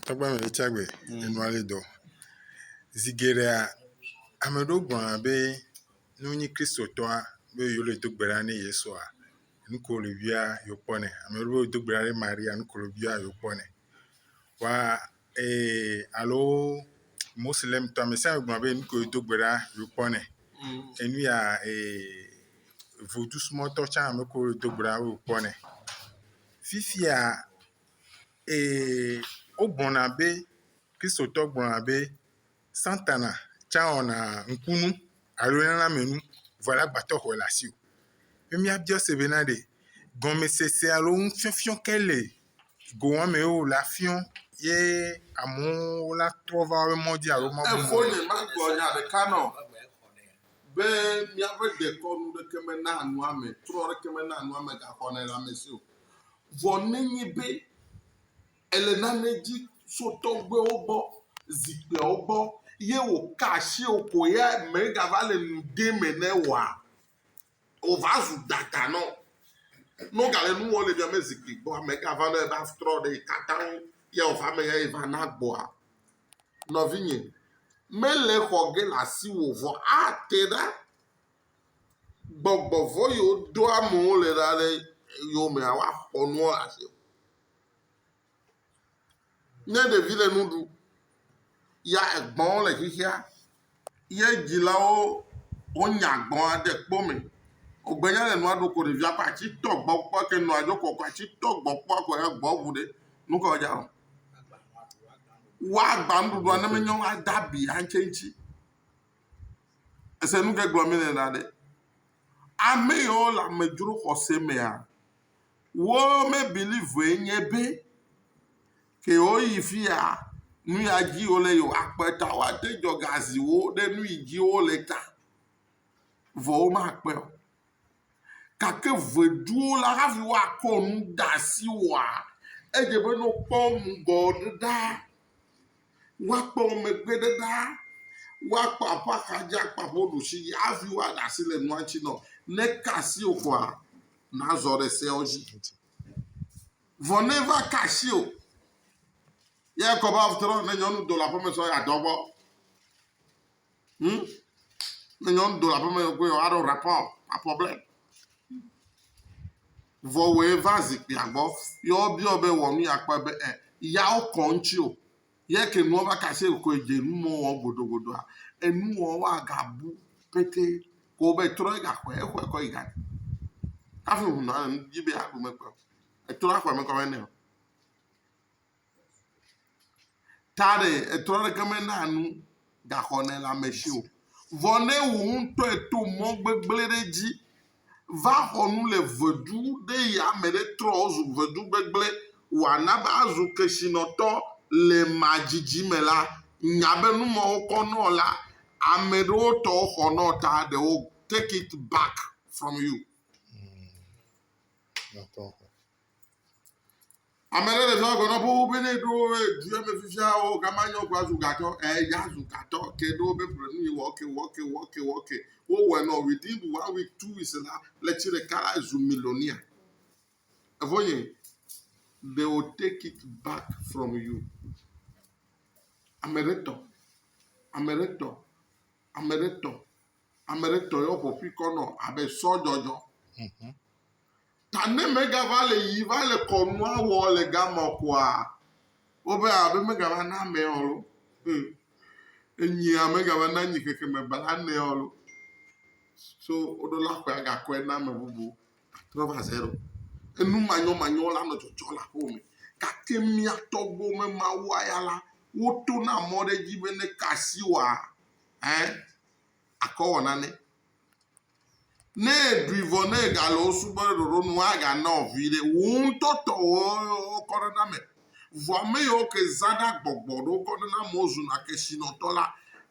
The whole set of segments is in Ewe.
Tɔgbe me ɖe tsia gbe enua le dɔ. Zi geɖea ame ɖewo gblɔna be ne wonye Kristotɔa be yewo le do gbe ɖa ne Yesua nu ko wole bia yewo kpɔnɛ. Ame ɖewo do gbe ɖa ɖe Maria nu ko wole bia yewo kpɔnɛ. Wa ee alo Mosilemtɔ ame sia ame gblɔna be nu ko wodo gbe ɖa yewo kpɔnɛ. Enu ya ee Vodusubɔtɔ tsã ame ko wole do gbe ɖa yewo kpɔnɛ. Fifia Ee, wogblɔna be, Kristotɔ gblɔna be, Satana tsã wɔna ŋkunu alo lãmenu vɔ la gbatɔ xɔe le asi o. Ke míabia se be na ɖe gɔmesese alo nufiɔfiɔ ke le go wɔmee wole afiɔ ye amewo la trɔ va woƒe mɔ dzi alo mabu mɔ dzi. Efonyɛ magblɔ nya ɖeka nɔ be míaƒe dekɔnu ɖeke mena nua me, trɔ ɖeke mena nua me gaxɔnɛ le ame si o. Vɔ nenye be èle nane di tso tɔgbuiwo gbɔ, zikpuiawo gbɔ, ye woka asi wò ko ya megava le nu ɖem ene oa, wòva zu dada na wò. Ne wogale nu wɔm le miame zikpui gbɔa, megava nɔ ebe atrɔ ɖe tatã ŋu ya wòva eme ya va na gbɔa? Nɔvinye, mele xɔ ge le asiwò o, vɔ ate ɖa. gbɔgbɔ vɔ̃ yiwo ɖoa amewo le ɖa ɖe yewomea, woaxɔ nuwo le asi. Ne ɖevi le nu ɖum ya egbɔ̃wo le xexea, ye dzilawo wonya gbɔ̃a de kpo me. Wogbenyae le nua ɖum ko ɖevia ƒe atsi tɔ gbɔ kpɔ ke nɔa dzo kɔ ko atsi tɔ gbɔ kpɔ ko ya gbɔ̃ ŋu ɖe. Nu kae woadza wɔ? Woagbã nuɖuɖua ne menye woada abi hã tse eŋuti. Ese nu ke gblɔm míele la ɖe? Ame yawo le amedzro xɔse mea, wo me believee nye be ke yewoyi fi ya nu ya dzi wole yewoakpe ta woate dzɔ ga zi wo ɖe nu yi dzi wole ta vɔ womakpe o. Gake veduwo la, hafi woakɔ nu de asi oa, edze be ne wokpɔ wo ŋgɔ ɖe ɖa, woakpɔ wo megbe ɖe ɖa, woakpɔ aƒe axadzi, akpɔ aƒe ɖusi dzi hafi woada asi le nua ŋuti nɔ. Ne eka asi wò koa, nàzɔ ɖe seawo dzi. Vɔ ne va ka asi wò, ye ekɔ be atrɔ ne nyɔnu do le aƒeme sɔ yeadɔ gbɔ. Hm, ne nyɔnu do le aƒeme koe wòaɖo rapɔ, rapɔ blɛ. Vɔ wòe va zikpuia gbɔ, ye wobiɔ be wɔ nu ya kpɔe be ɛ, yawo kɔ ŋuti o. Ye ke nua va kase koe dze nu mɔ wɔ godogodoa, enuwɔwɔ agabu pɛtɛ ko be trɔ yi gaxɔe, exɔe kɔ yi gaɖi. Hafi ŋu nɔa le nu dzi be yeaɖu mekpɔe o. Etrɔ aƒeme kɔ be nɛ o. Ta ɖe etrɔ aɖeke menaa nu gaxɔlelãmesi o. Vɔ ne wò ŋutɔ èto mɔ gbegblẽ ɖe edzi va xɔ nu le vedu ɖe ɣi ame ɖe trɔ zu vedu gbegblẽ wòana be azu kesinɔtɔ le ema dzidzi me la, nya be nu mawo kɔ nɔ la, ame ɖewo tɔ xɔ nɔ ta they will take it back from you. Ame ɖe le zɔa gbe nɔ ƒowu be ne ɖo du ya me fifia o gama nyɔ kura zu gatɔ. Eya zu gatɔ ke ɖo be ƒle nu yi wɔ ke wɔ ke wɔ ke wɔ ke. Wo wɔ nɔ within one week two weeks la le tsi ɖeka la zu millionaire. Evo nye they will take it back from you. Ame ɖe tɔ. Ame ɖe tɔ. Ame ɖe tɔ. Ame ɖe tɔ yɔ ƒɔƒi kɔ nɔ abe sɔ jɔjɔ. Mhm. Ta ne mega va le yi va le kɔnua wɔ le gamɔ kɔa, wobe abe mega va na mɛ ɔlo. Hmm. Enyi ame gava na nyi keke me bala nɛ ɔlo. So woɖo la kɔe agakɔe na ame bubu. Trɔ va zero. Enu manyɔ manyɔ la nɔ tsɔtsɔ la ƒo me. Gake mia tɔgbo me ma wa ya la, woto na mɔ ɖe dzi be ne kasi wa, Ɛɛ, akɔ wɔ nane. Ne èɖui vɔ ne ègale wo subɔɖe ɖoɖo nu aganɔ viɖe. Wò ŋutɔ tɔwò kɔ ɖe na me. Vɔ ame yiwo ke zãɖe agbɔgbɔ ɖo kɔ ɖe na amewo zuna kesinɔtɔ la.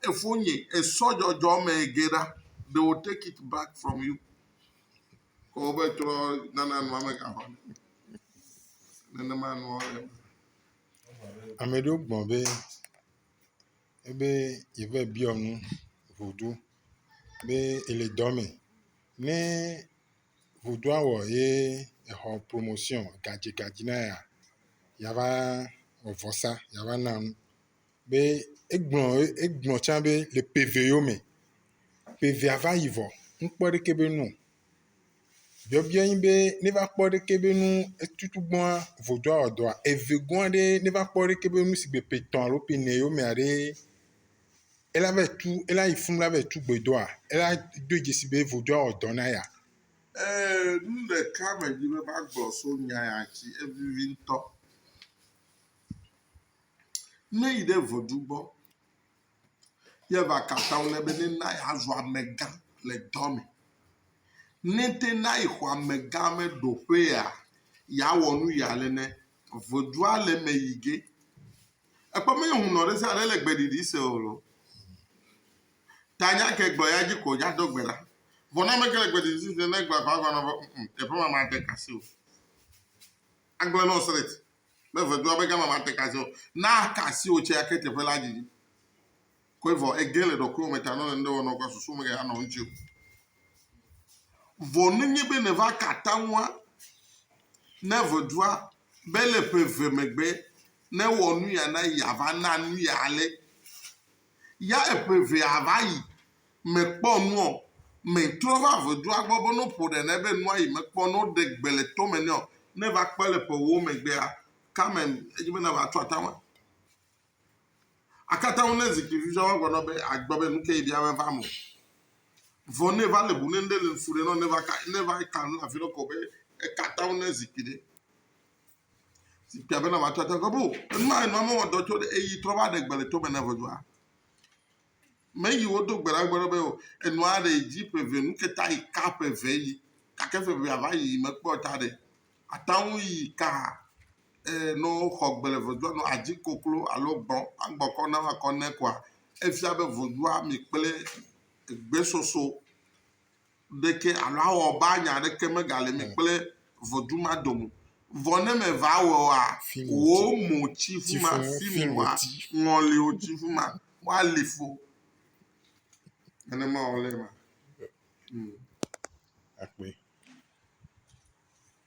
Efonye, esɔ dzɔdzɔ me geɖa. They will take it back from you. Kɔ wobe trɔ nana nua me gaʋã ɖe. Nenema nua le. Ame ɖewo gblɔ be. ebe yeva biɔ nu ŋuɖu be ele dɔ me. Ne ŋuɖua wɔ ye exɔ promosiɔ, gadzigadzi na yea, yeava wɔ vɔsa, yeava na nu. Be egblɔ egblɔ tsã be le ƒe ve yewo me, ƒe vea va yi vɔ, ŋkpɔ ɖeke be nu o. Biɔbiɔe nye be ne va kpɔ ɖe ke be nu etutu gbɔa vodoa wɔ dɔa eve gɔa ɖe ne va kpɔ ɖe ke be nu si gbe ƒe etɔ̃ alo ƒe ene yomea ɖe ela va yi tu ela yi funu la va yi tu gbe doa ela do dzesi be vodoa wɔ dɔ na ya. Ee, nu ɖeka medi be magblɔ so nya ya ŋuti evivi ŋutɔ. Ne yi ɖe vodu gbɔ Ye va ka atam nɛ be nena yeazu amegã le dɔa me. Ne te na yexɔ amegã me ɖo ƒea, yeawɔ nu ya le nɛ. Vodua le eme yi ge. Ekpɔ be hunɔ ɖe sia ɖe le gbeɖiɖi se o lo. Ta nya ke gblɔ ya dzi ko dza do gbe ɖa. Vɔ ne ame ke le gbeɖiɖi se ne gbe va gɔme be teƒe ma made kasi o. Agblẽ nɔ sreti. Be vedua be gama mate ka se o. Na aka asi wò tsɛa ke teƒe la didi koe vɔ ègee le ɖɔkuiwò me ta nɔ le nuɖe wɔnɔ kɔ susu me gaya nɔ ŋuti o. Vɔ nenye be nèva ka atamua ne vedua be le ƒe eve megbe ne ewɔ nuya na yia va na nuya ale ya eƒe evea va yi, mekpɔ nu o. Metrɔ va ʋedua gbɔ be no ƒo ɖe nɛ be nua yi mekpɔ no ɖe gbe le tome nɛ o. Ne va kpɔe le ƒe ewo megbea, Carmen, edzi be nava tso atame. Akata ŋu ne zikpui viviawo va gbɔnɔ be agbɔ be nuke yi bia me va me o. Vɔ ne va le bu ne ŋɖe le ŋsu ɖe nɔ ne va ka ne va ka nu afi ɖe ko be ekata ŋu ne zikpui ɖe. si fia bena wòatsɔ ate ŋgɔ be o, enua enua mewɔ dɔ tso ɖe eyi trɔ va ɖe gbe le tome na ʋɔnua. Meyi wodo gbe ɖa gbe ɖe be o, enua ɖe dzi ƒe eve nu ke ta yi ka ƒe eve yi gake ƒe evea va yi mekpɔ ta ɖe. Ate ŋu yi ka e, ne woxɔ gbe le ʋɔnua nɔ adzi koklo alo gbɔ agbɔ kɔ na woakɔ nɛ koa efia be ʋɔnua mi kple egbesoso. ɖeke alo awɔ be anya aɖeke megali mi kple ʋɔtru ma dome. Vɔ ne meva awɔa, wò mo tsi ƒu ma, fi mi wòa, ŋɔli wò tsi ƒu ma, woali fo. Nenema wòle ema. Hmm. Akpe.